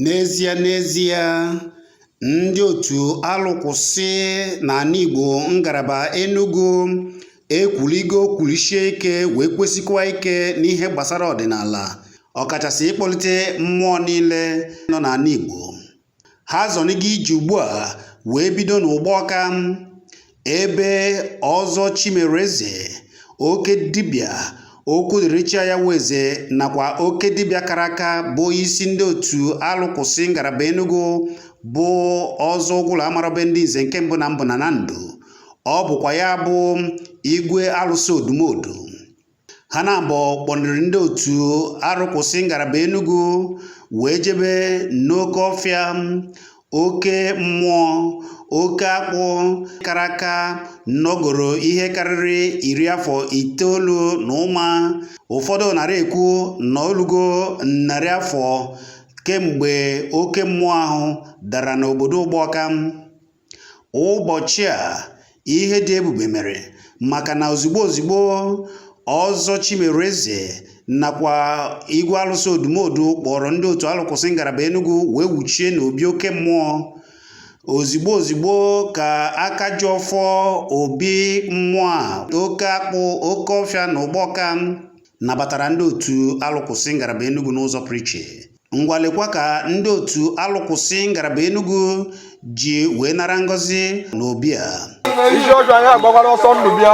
N'ezie n'ezie, ndị otu alụkwụsị n'ala Igbo ngalaba Enugu ekwuligo kwulisie ike wee kwesikwa ike n'ihe gbasara ọdịnala ọkachasị ịkpọlite mmụọ niile nọ n'ala Igbo. Ha zọnigo ije ugbu a wee bido n'Ụgbọka Ebe Ọzọ Chimereze, oke dibịa okwu dịrị chi ya eze nakwa oke dibịa kara aka bụ isi ndị otu alụkwụsị ngalaba Enugu bụ Ọzọ Ụgwụla amara be ndị nze nke mbụ na mbụ na na ndụ ọ bụkwa ya bụ igwe alụsị odumodu ha naabọ kpọniri ndị otu arụkwụsị ngalaba Enugu wee jebe n'oke ọfịa oke mmụọ oke akpụ kara aka nọgoro ihe karịrị iri afọ itoolu na ụma ụfọdụ narị ekwu na o lugo narị afọ kemgbe oke mmụọ ahụ dara n'obodo Ụgbọka Ụbọchị a, ihe dị ebube mere maka na ozigbo ozigbo Ọzọ Chimereze nakwa Igwe Alụsị Odumodu kpọrọ ndị otu alụkwụsị ngalaba Enugu wee wuchie n'obi oke mmụọ ozigbo ozigbo ka aka ji ọfọ obi mmụọ a oke akpụ oke ọfịa na Ụgbọka nabatara ndị otu alụkwụsị ngalaba Enugu n'ụzọ pụrụ iche ngwa lekwa ka ndị otu alụkwụsị ngalaba Enugu ji wee nara ngọzi n'obi a isi ọjọọ anyị agbakwara ọsọ ndụ bịa